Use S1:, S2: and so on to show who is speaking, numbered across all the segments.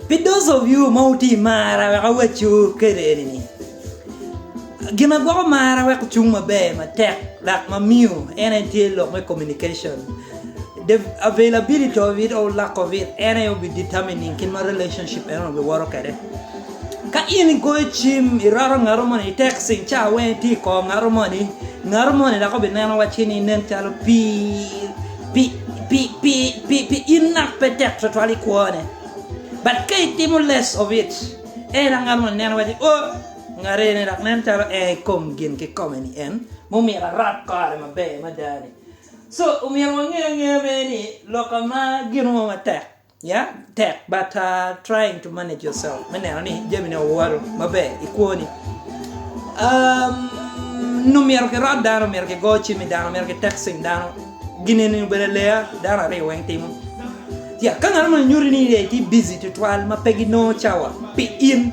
S1: Pi those of you ma wutye i marra wek awacciwu kede eni ni, gin ma gwoko marra wek ocung maber matek dok ma miyo en aye tye lok me communication. The availability of it or lack of it en aye obi determining kit ma relationship eno obi woto kede. Ka in igoyo cim iroto ngato moni itexting ca weng itye i kor ngato moni, ngato moni dok obi neno wacci ni nen calo pii. Pi in ngat pe tek twatwal i kwone, but ka itimo less of it, ela ngat moni neno wacci, Oh, ngat eni dok nen calo en i kom gin kikome ni en mumito arab kore maber mada-ni. So, omyero wange angeya bene ni lok ama gino mo matek. Ya tek but trying to manage yourself me neno ni jamine owoto maber i kwoni. Um, nyo myero kirot dano, myero kigo cim i dano, myero kitexting dano. Gineni obedo leya dano aryo weng timo. Ya ka ngat mo nyuti ni lee tye busy tutwal ma pe ginongo cawa pi in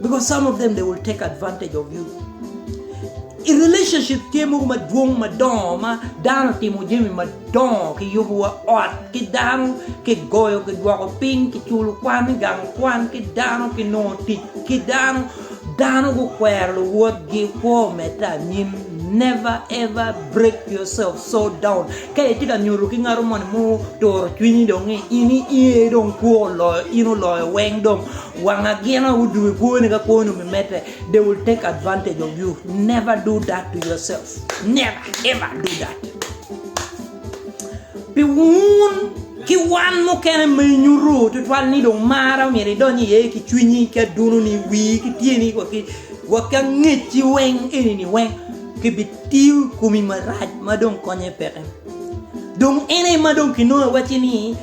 S1: Because some of them they will take advantage of you I relationship tye mogo madwong madongo ma dano timo jami madongo ki yubo wa ot ki dano ki goyo ki dwoko piny ki culo kwan gang kwan ki dano ki nongo tic ki dano dano gukwero luwotgi kwo mete anyim never ever break yourself so down ka itye ka nyuto ki ngaro moni mu turo cwinyi dong ni ini iye dong kwo oloyo in oloyo weng dong Wang agina u dwe kwoni ka kwoni mi mete they will take advantage of you never do that to yourself never ever do that pi wun ki wan mukene ma inyuto tutwal ni dong mara omyero idony iye ki cwinyi ki aduno ni wii ki tyeni wa ki wa ki angecci weng eni ni weng ki bi tiyo komi marac ma dong konye peke dong ene ma dong kinongo iwacci ni